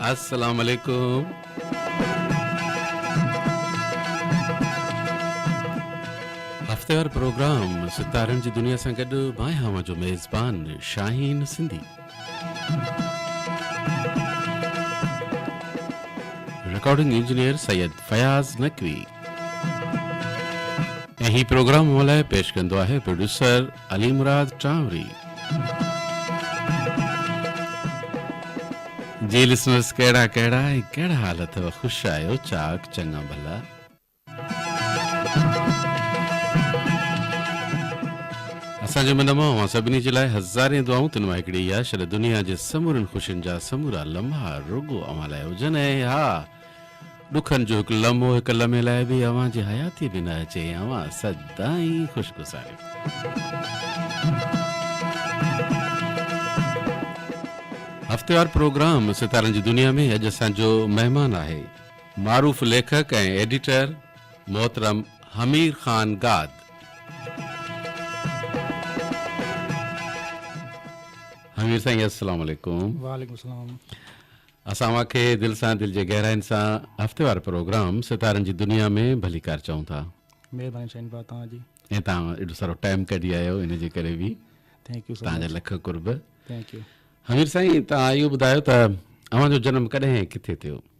السلام عليڪم. هفتيوار پروگرام ستارن جي دنيا سان گڏ مان آهيان اوهان جو ميزبان شاهين سنڌي. رڪارڊنگ انجنيئر سيد فياض نقوي ۽ هي پروگرام اوهان لاء پيش ڪندو آهي پروڊيوسر علي مراد ٽانوري جي لسنرز ڪهڙا ڪهڙا ۽ ڪهڙا حال اٿو خوش آهيو چاڪ چڱا ڀلا. اسان جي من مان اوهان سڀني جي لاء هزارين دعائون تن مان هڪڙي اها شل دنيا جي سمورين خوشين جا سمورا لمحا رڳو اوهان لاء هجن ۽ ها ڏکن جو هڪ لمحو هڪ لمحي لاء به اوهان جي حياتي ۾ نه اچي اوهان سدائين خوش گذاريو هفتيوار پروگرام ستارن جي دنيا ۾ اڄ اسان جو مهمان آهي معروف ليکڪ ۽ ايڊيٽر محترم حمير خان گاد. حمير سائين السلام عليڪم. وعليڪم السلام. اسان اوهان کي دل سان دل جي گهراين سان هفتيوار پروگرام ستارن جي دنيا ۾ ڀليڪار چئون ٿا. مهرباني شاهين ڀاء توهان جي. ۽ توهان ايڏو سارو ٽائيم ڪڍي آيا آهيو ان جي ڪري به ٿينڪ يو سو توهان جا لک قرب. Thank you. حمير سائين توهان اهو ٻڌايو ته اوهان جو جنم ڪڏهن ۽ ڪٿي ٿيو؟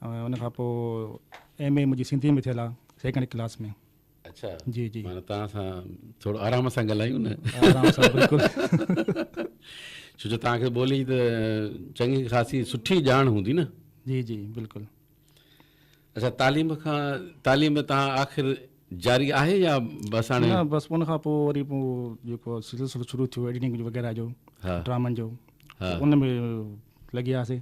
۽ ان کان پوء ايم اي منهنجي سنڌي ۾ ٿيل آ سيڪنڊ ڪلاس ۾. اڇا جي جي معنيٰ توهان سان ٿورو آرام سان ڳالهايون نه آرام سان بلڪل ڇو جو توهان کي ٻولي ته چڱي خاصي سٺي ڄاڻ هوندي نه جي جي بلڪل اڇا تعليم کان تعليم توهان آخر جاري آهي يا بس هاڻي نه بس ان کان پوء وري پوء جيڪو سلسلو شروع ٿيو ايڊيٽنگ وغيره جو ڊرامن جو ان ۾ لڳياسي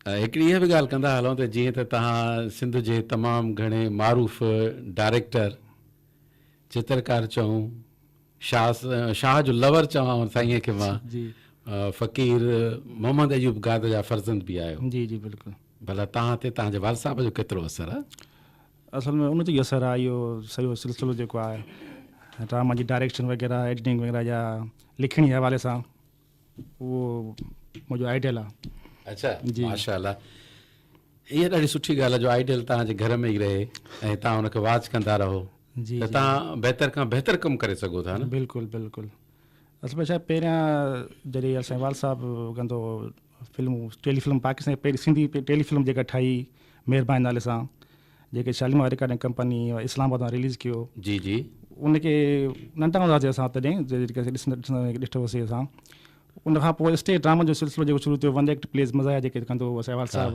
هڪڙي اها به ڳالهه ڪندا هلون ته جيئن ته توهان سنڌ جي تمام گهڻي معروف ڊائريڪٽر چترڪار چون شاهه شاهه جو لور چوان سائين کي مان فقير محمد ايوب گاد جا فرزند به آهيو جي جي بلڪل ڀلا توهان تي توهان جي والد صاحب جو ڪيترو اثر آهي اصل ۾ ان جو اثر آهي اهو سڄو سلسلو جيڪو آهي ڊرامن جي ڊائريڪشن وغيره ايڊيٽنگ وغيره جا لکڻي حوالي سان اهو منهنجو آئيڊيل آ. اڇا ماشا الله اها ڏاڍي سٺي ڳالهه آهي جو آئيڊيل توهان جي گهر ۾ ئي رهي ۽ توهان ان کي واچ ڪندا رهو ته توهان بهتر کان بهتر ڪم ڪري سگهو ٿا نه بلڪل بلڪل اصل ۾ ڇا پهريان جڏهن اسان وال صاحب ڪندو فلمون ٽيلي فلم پاڪستان جي پهرين سنڌي ٽيلي فلم جيڪا ٺاهي مهرباني نالي سان جيڪي Shalimar recording company Islamabad مان رليز ڪيو جي جي ان کي ننڍا هوندا هئاسي اسان تڏهن جيڪي ڏسندا ڏٺو هوسي اسان ان کان پوء اسٽيج ڊرامن جو سلسلو جيڪو شروع ٿيو ون ايڪٽ پليز مزايا جيڪي ڪندو هو سهوال صاحب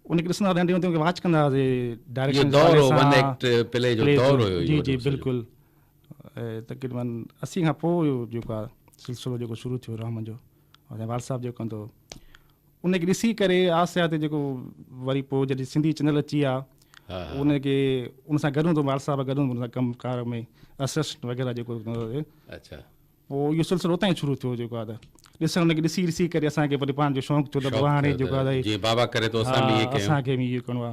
ان کي ڏسندا ننڍي هوندي واچ ڪندا هئاسي ڊائريڪشن دور هو ون ايڪٽ پلي جو دور هو جي جي بلڪل تقريبن اسي کان پوء جيڪو سلسلو جيڪو شروع ٿيو ڊرامن جو ۽ وال صاحب جو ڪندو ان کي ڏسي ڪري آهستي آهستي جيڪو وري پوء جڏهن سنڌي چينل اچي آ ان کي ان سان گڏ هوندو وال صاحب گڏ هوندو ڪم ڪار ۾ اسسٽنٽ وغيره جيڪو اچھا پوء اهو سلسلو اتان ئي شروع ٿيو جيڪو آ ڏسڻ ان کي ڏسي ڏسي ڪري اسان کي وري پاڻ جو شوق ٿيو ته هاڻي جيڪو آ جيئن بابا ڪري ٿو اسان به ائين ڪيون اسان کي به اهو ڪرڻو آ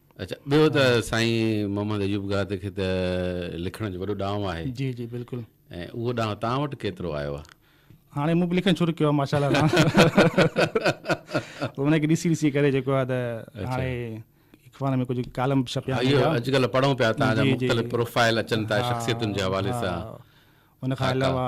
اچھا ٻيو ته سائين محمد ايوب گاد کي ته لکڻ جو وڏو ڏانء آهي جي جي بلڪل ۽ اهو ڏانء تان وٽ ڪيترو آيو آهي هاڻي مون به لکڻ شروع ڪيو آهي ماشاءالله سان ان کي ڏسي ڏسي ڪري جيڪو آهي ته هاڻي اخبار ۾ ڪجهه ڪالم به ڇپيا آهن اهو اڄ ڪلهه پڙهون پيا تان جا مختلف پروفائل اچن ٿا شخصيتن جي حوالي سان ان کان علاوه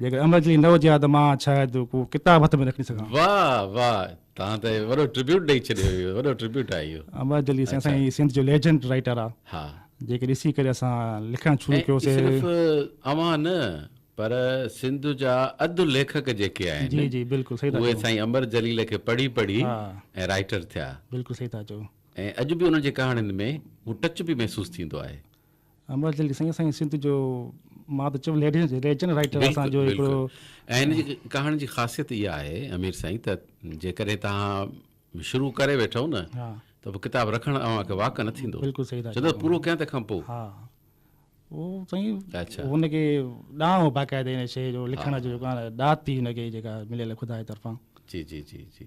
جيڪڏهن امر جلي نه هجي ها ته مان شايد ڪو ڪتاب هٿ ۾ نه کڻي سگهان ها. واء واء توهان ته وڏو ٽربيوٽ ڏئي ڇڏيو اهو وڏو ٽربيوٽ آهي اهو. امر جلي سائين سائين سنڌ جو ليجنڊ رائيٽر آ ها جيڪي ڏسي ڪري اسان لکڻ شروع ڪيو سي. صرف اوهان نه پر سنڌ جا اڌ ليکڪ جيڪي آهن جي جي بلڪل صحيح ٿا اهي چئو سائين امر جليل کي پڙهي پڙهي ها ۽ رائيٽر ٿيا بلڪل صحيح ٿا چئو. ۽ اڄ به انهن جي ڪهاڻين ۾ هو ٽچ به محسوس ٿيندو آهي. امرت جن کي سائين اسان جي سنڌ جو مان ته چيم ليڊينس ريجن رائيٽر اسان جو هڪڙو ۽ ان جي ڪهاڻي جي خاصيت اها آهي امير سائين ته جيڪڏهن توهان شروع ڪري ويٺو نه ته پوء ڪتاب رکڻ اوهان کي واڪ نه ٿيندو بلڪل صحيح ٿا چئو پورو ڪيان تنهن کان پوء ها هو سائين اچھا ان کي ڏانء هو باقاعده ان شيء جو لکڻ جو جيڪو ڏات ٿي ان کي جيڪا مليل خدا جي طرفان جي جي جي جي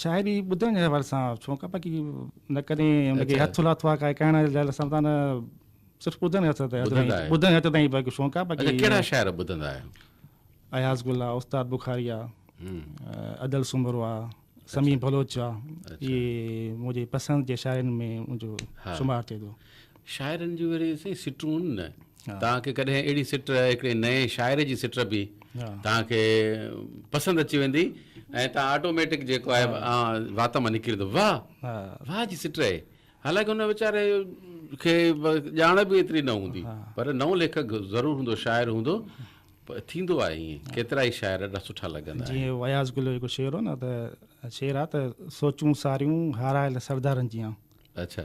شاعري ٻڌڻ جي حوالي سان ڇو ڪا باقي نه ڪڏهن ان کي هٿ لاٿو آ ڪا ڪهڻ جي حوالي سان نه صرف ٻڌڻ هٿ تي ٻڌڻ هٿ تائين باقي شوق آ باقي ڪهڙا شاعر ٻڌندا آهيو اياز گل آ استاد بخاري آ ادل سومرو آ سمي بلوچ آ اي منهنجي پسند جي شاعرن ۾ منهنجو شمار ٿئي ٿو شاعرن جون اهڙيون سائين سٽون هن نه توهان کي ڪڏهن اهڙي سٽ هڪڙي نئين شاعر جي سٽ به توهان کي پسند اچي ويندي ۽ توهان آٽوميٽڪ جيڪو آهي وات مان نڪري ٿو واهه واهه جي سٽ آهي حالانڪه هن ويچاري کي ڄاڻ به ايتري نه هوندي پر نئون ليکڪ ضرور هوندو شاعر هوندو ٿيندو آهي ائين ڪيترا ئي شاعر ڏاڍا سٺا لڳندا آهن جيئن وياز گل جو هڪ شعر هو نه ته شعر آهي ته سوچون ساريون هارايل سردارن جيان اچھا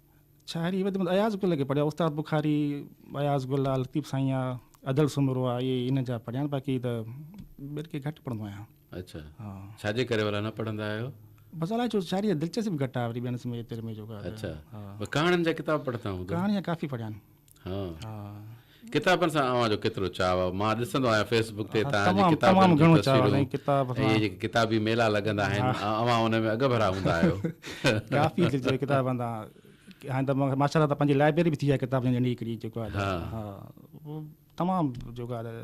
شاعري وڌ ۾ اياز گل کي پڙهيا استاد بخاري اياز گل آ لطيف سائين آ ادل سومرو آ اهي ان جا پڙهيا آهن باقي ته ٻين کي گهٽ پڙهندو آهيان اڇا ها ڇا جي ڪري ولا نه پڙهندا آهيو بس الاء ڇو شاعري دلچسپ گهٽ آهي وري ٻين سميت ۾ جو اڇا ها ٻه ڪهاڻين جا ڪتاب پڙهندا هوندو ڪهاڻي ها ڪافي پڙهيا آهن ڪتابن سان اوهان جو ڪيترو چاهه آهي؟ مان ڏسندو آهيان فيس بڪ تي توهان جي ڪتابن جون تصويرون ۽ اهي جيڪي ڪتابي ميلا لڳندا آهن اوهان ان ۾ اڳڀرا هوندا آهيو. ڪافي دل چاهي ڪتابن سان هاڻي ته ماشاءالله ته پنهنجي لائبريري به ٿي آهي ڪتابن جي ننڍي هڪڙي جيڪو آهي تمام جيڪو آهي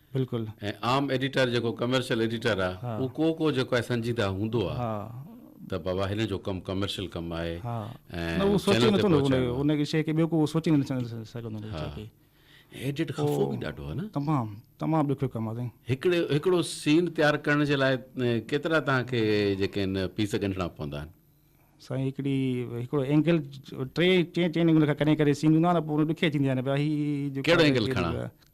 بلڪل. ۽ عام ايڊيٽر جيڪو ڪمرشل ايڊيٽر آ اهو ڪو ڪو جيڪو آهي سنجيده هوندو آ ته بابا هن جو ڪم ڪمرشل ڪم آهي ۽ چينل تي پهچائڻو آ. ان شيء کي ٻيو ڪو سوچي نه سگهندو ان شيء کي. ايڊيٽ خفو به ڏاڍو آ نه. تمام تمام ڏکيو ڪم آ سائين. هڪڙو هڪڙو سين تيار ڪرڻ جي لاء ڪيترا توهان کي جيڪي آهن پيس ڳنڍڻا پوندا آهن. سائين هڪڙي هڪڙو اينگل ٽي چئين چئين اينگل کان ڪري ڪري سين هوندو آ نه پوء ڏکيائي ٿيندي آهي نه ڀيا هي ڪهڙو اينگل کڻان.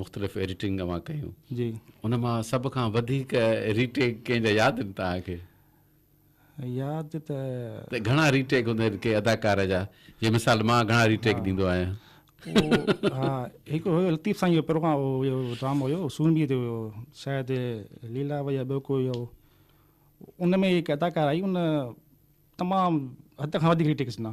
مختلف ايڊيٽنگ اوهان ڪيون جي ان مان سڀ کان وڌيڪ ري ٽيڪ ڪنهن جا ياد آهن توهان کي ياد ته ته گهڻا ري ٽيڪ هوندا آهن ڪي اداڪار جا جي مثال مان گهڻا ري ٽيڪ ڏيندو آهيان ها هڪ هو لطيف سائين جو پروگرام هو ڊرامو هيو سونبي تي هيو شايد ليلا ويا ٻيو ڪو هيو ان ۾ هڪ اداڪار آئي ان تمام حد کان وڌيڪ ري ٽيڪ ڏنا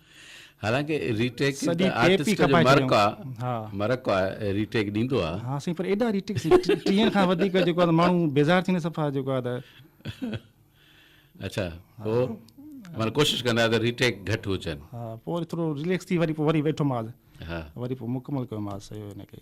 حالانڪه ري ٽيڪ ته آرٽسٽ جو مرڪ آ مرڪ آ ري ٽيڪ ڏيندو آ ها سائين پر ايڏا ري ٽيڪ ٽيهن کان وڌيڪ جيڪو آ ماڻهو بيزار ٿيندا صفا جيڪو آ ته اچھا پو مطلب ڪوشش ڪندا ته ري ٽيڪ گھٽ هجن ها پو وري ٿورو ريليڪس ٿي وري پو وري ويٺو ماز ها وري پو مڪمل ڪيو ماز سيو هن کي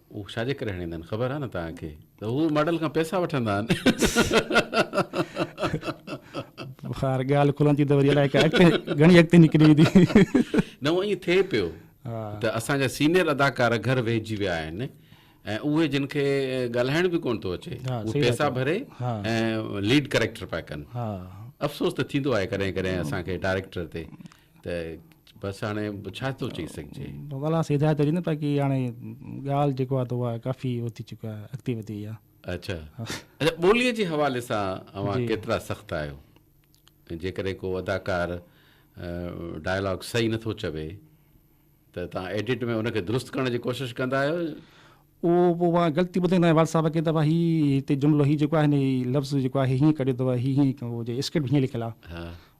اهو ڇاجي ڪري هڻيندا آهن خبر آهي نه توهان کي ته هو ماڊل کان پئسا وٺندا آهن. خير ڳالهه کلڻ ٿي ته وري الائي گهڻي اڳتي نڪري ويندي. نه هو ائين ٿئي پيو ته اسان جا سينيئر اداڪار گهر ويهجي ويا آهن ۽ اهي جن کي ڳالهائڻ به ڪونه ٿو اچي اهي پئسا ڀري ۽ ليڊ ڪريڪٽر پيا ڪن افسوس ته ٿيندو آهي ڪڏهن ڪڏهن اسان کي ڊائريڪٽر تي ته بس هاڻي ڇا ٿو چئي سگهجي. بلا سي هدايت هجي نه باقي هاڻي ڳالهه جيڪو آهي اها ڪافي هو ٿي چڪا آهي اڳتي وڌي وئي آهي. اڇا اڇا ٻولي جي حوالي سان اوهان ڪيترا سخت آهيو جيڪڏهن ڪو اداڪار ڊائلاگ صحيح نٿو چوي ته توهان ايڊٽ ۾ ان کي درست ڪرڻ جي ڪوشش ڪندا آهيو. اهو پوء اوهان غلطي ٻڌائيندا آهيو وال صاحب کي ته ڀاء هي هتي جملو هي جيڪو آهي نه هي لفظ جيڪو آهي هيئن ڪڍيو اٿو هي هيئن اسڪرپٽ هيئن لکيل آهي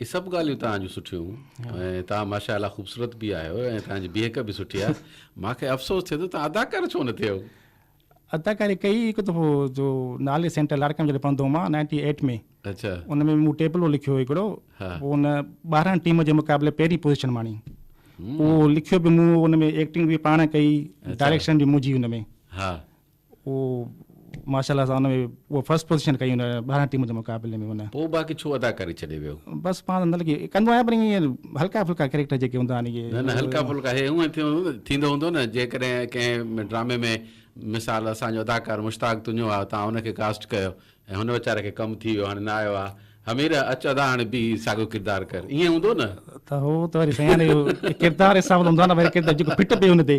هي سڀ ڳالهيون توهان جون سٺيون ۽ توهان ماشاء الله خوبصورت به آهيو ۽ توهان جي بيهڪ به سٺي آهي مان کي افسوس ٿئي ٿو توهان اداڪار ڇو نه ٿيو اداڪاري ڪئي هڪ دفعو جو نالي سينٽر لاڙڪا ۾ جڏهن پڙهندو هوم مان نائنٽي ايٽ ۾ اچا ان ۾ مون ٽيپلو لکيو هو هڪڙو پوء ان ٻاهران ٽيم جي مقابلي پهرين پوزيشن ماڻي اهو لکيو به مون ان ۾ ايڪٽنگ به پاڻ ڪئي ڊائريڪشن به منهنجي ان ۾ ها اهو ماشاء الله سان ان ۾ فرسٽ پوزيشن ڪئي ان ٻاهران ٽيم جي مقابلي ۾ ان. پوء باقي ڇو اداڪاري ڇڏي ويو؟ بس پاڻ نه لڳي ڪندو آهيان پر ائين هلڪا ڦلڪا ڪيريڪٽر جيڪي هوندا آهن اهي. نه نه هلڪا ڦلڪا هي هونئن ٿيندو هوندو نه جيڪڏهن ڪنهن ڊرامي ۾ مثال اسان جو اداڪار مشتاق تونيو آهي توهان ان کي ڪاسٽ ڪيو ۽ هن ويچاري کي ڪم ٿي ويو هاڻي نه آيو آهي حميره اچ ادا هاڻي بيهي ساڳيو ڪردار ڪر ائين هوندو نه. ته هو ته وري سيان اهو ڪردار حساب سان هوندو آهي نه وري ڪردار جيڪو فٽ پئي ان تي.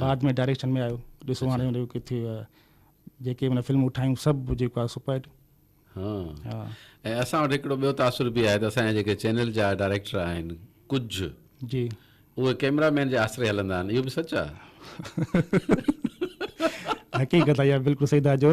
بعد ۾ ڊائريڪشن ۾ آيو ڏسو هاڻي ان جو ڪٿي جيڪي من فلمون ٺاهيون سڀ جيڪو آهي سپر هٽ ها ۽ اسان وٽ هڪڙو ٻيو تاثر به آهي ته اسان جا جيڪي چينل جا ڊائريڪٽر آهن ڪجهه جي اهي ڪيمرا مين جي آسري هلندا آهن اهو به سچ آهي حقيقت آهي بلڪل صحيح ٿا چو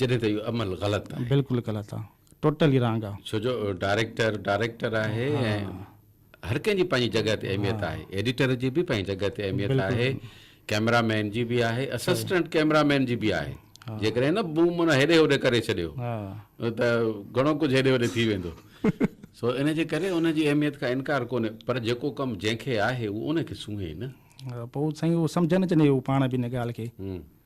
جڏهن ته اهو عمل غلط آهي. بلڪل غلط آ ٽوٽل ئي رانگ آ. ڇو جو ڊائريڪٽر ڊائريڪٽر آهي ۽ هر ڪنهن جي پنهنجي جڳهه تي اهميت آهي ايڊيٽر جي به پنهنجي جڳهه تي اهميت آهي ڪيمرا مين جي به آهي اسسٽنٽ ڪيمرا مين جي به آهي جيڪڏهن نه بوم نه هيڏي هوڏي ڪري ڇڏيو ته گهڻو ڪجهه هيڏي هوڏي ٿي ويندو سو ان جي ڪري ان جي اهميت کان انڪار ڪونهي پر جيڪو ڪم جنهن کي آهي اهو ان کي سونهي نه پوء سائين اهو سمجهن اچني اهو پاڻ به ان ڳالهه کي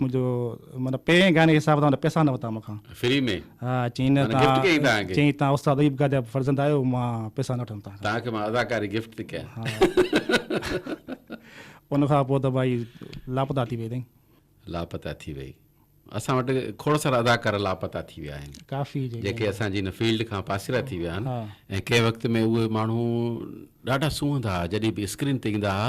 منهنجو معنيٰ پهرين گائڻي حساب تان پئسا نه ورتا مون کان. فري ۾؟ ها چيائين نه تان چيائين تان استاد ايوب گاهه جا فرزند آهيو مان پئسا نه وٺندس تان کان. تان کي مان اداڪاري گفٽ ٿي ڪيان. ها ان کان پوء ته ڀائي لاپتا ٿي وئي اٿئي. لاپتا ٿي وئي. اسان وٽ کوڙ سارا اداڪار لاپتا ٿي ويا آهن. ڪافي جيڪي. جيڪي اسان جي ان فيلڊ کان پاسيرا ٿي ويا آهن ۽ ڪنهن وقت ۾ اهي ماڻهو ڏاڍا سونهندا ها جڏهن به اسڪرين تي ايندا ها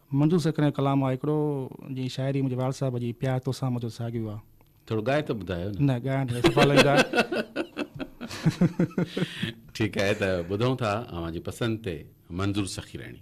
منظور سيڪريء جو ڪلام آ هڪڙو، جي شاعري منهنجي والد صاحب جي پيار توسان منهنجو ساڳيو آ. ٿورو ڳائي ته ٻڌايو نه. نه ڳائڻ ته صفا لنگهه آ. ٺيڪ آهي ته ٻڌون ٿا اوهان جي پسند تي منظور سخيرڻي.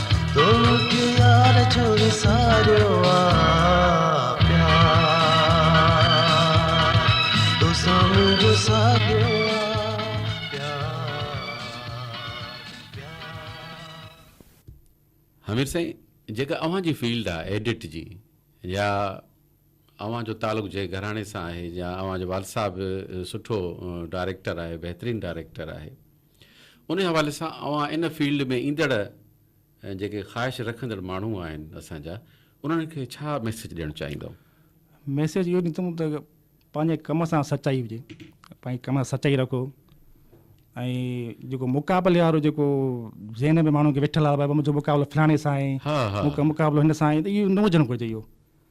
توکي يار ڇو وساريو آ پيار توسان منهنجو ساڳيو آ حميد سائين جيڪا اوهان جي فيلڊ آ ايڊٽ جي يا اوهان جو تعلق جنهن گهراڻي سان آهي يا اوهان جو والد صاحب سٺو ڊائريڪٽر آهي بهترين ڊائريڪٽر آهي ان حوالي سان اوهان ان فيلڊ ۾ ايندڙ جيڪي خواهش رکندڙ ماڻهو آهن اسان جا انهن کي ڇا ميسيج ڏيڻ چاهيندؤ؟ ميسيج اهو ڏيندم ته پنهنجي ڪم سان سچائي هجي پنهنجي ڪم سان سچائي رکو ۽ جيڪو مقابلي وارو جيڪو ذهن ۾ ماڻهو کي ويٺل آهي ڀاء منهنجو مقابلو فلاڻي سان آهي مون کي مقابلو هن سان آهي ته اهو نه هجڻ گهرجي اهو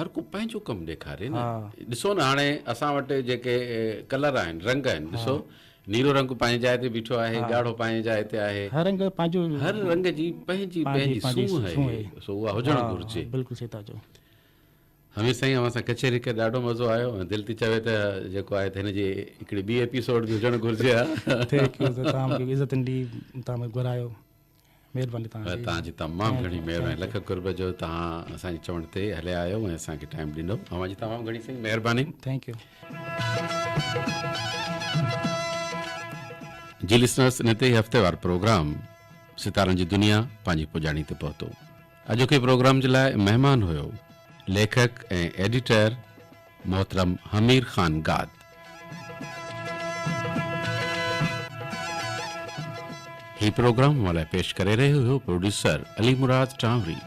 هر ڪو پنهنجو ڪم ڏيکاري نه ڏسو نه هاڻي اسان وٽ جيڪي ڪلر آهن رنگ آهن ڏسو نيرو رنگ پنهنجي جاء تي بيٺو آهي ڳاڙهو پنهنجي جاء تي آهي هر رنگ پنهنجو هر رنگ جي پنهنجي پنهنجي سونهن آهي سو اها هجڻ گهرجي بلڪل صحيح ٿا چئو همي سائين اوهان سان ڪچهري ڪري ڏاڍو مزو آيو ۽ دل ٿي چوي ته جيڪو آهي ته هن جي هڪڙي ٻي ايپيسوڊ به هجڻ گهرجي ها ٿينڪ يو تمام عزت ڏي تمام گهرايو مهرباني توهان جي. توهان جي تمام گهڻي مهرباني لک قرب جو توهان اسان جي چوڻ تي هليا آيو ۽ اسان کي ٽائيم ڏنو اوهان جي تمام گهڻي سائين مهرباني ٿينڪ يو جي لسنرس ان تي هفتيوار پروگرام ستارن جي دنيا پنهنجي پڄاڻي تي پهتو اڄوڪي پروگرام جي لاء مهمان هيو ليکڪ ۽ ايڊيٽر محترم حمير خان گاد. هي پروگرام اوهان لاء پيش ڪري رهيو هيو producer Ali Murad Tanwari.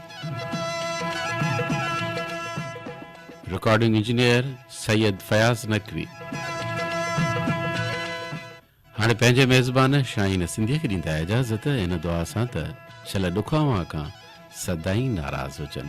Recording engineer Syed Fayaz Naqvi. هاڻي پنهنجي ميزبان شاهين سنڌيء کي ڏيندا اجازت ان دعا سان ته شل ڏک اوهان کان سدائين ناراض هجن.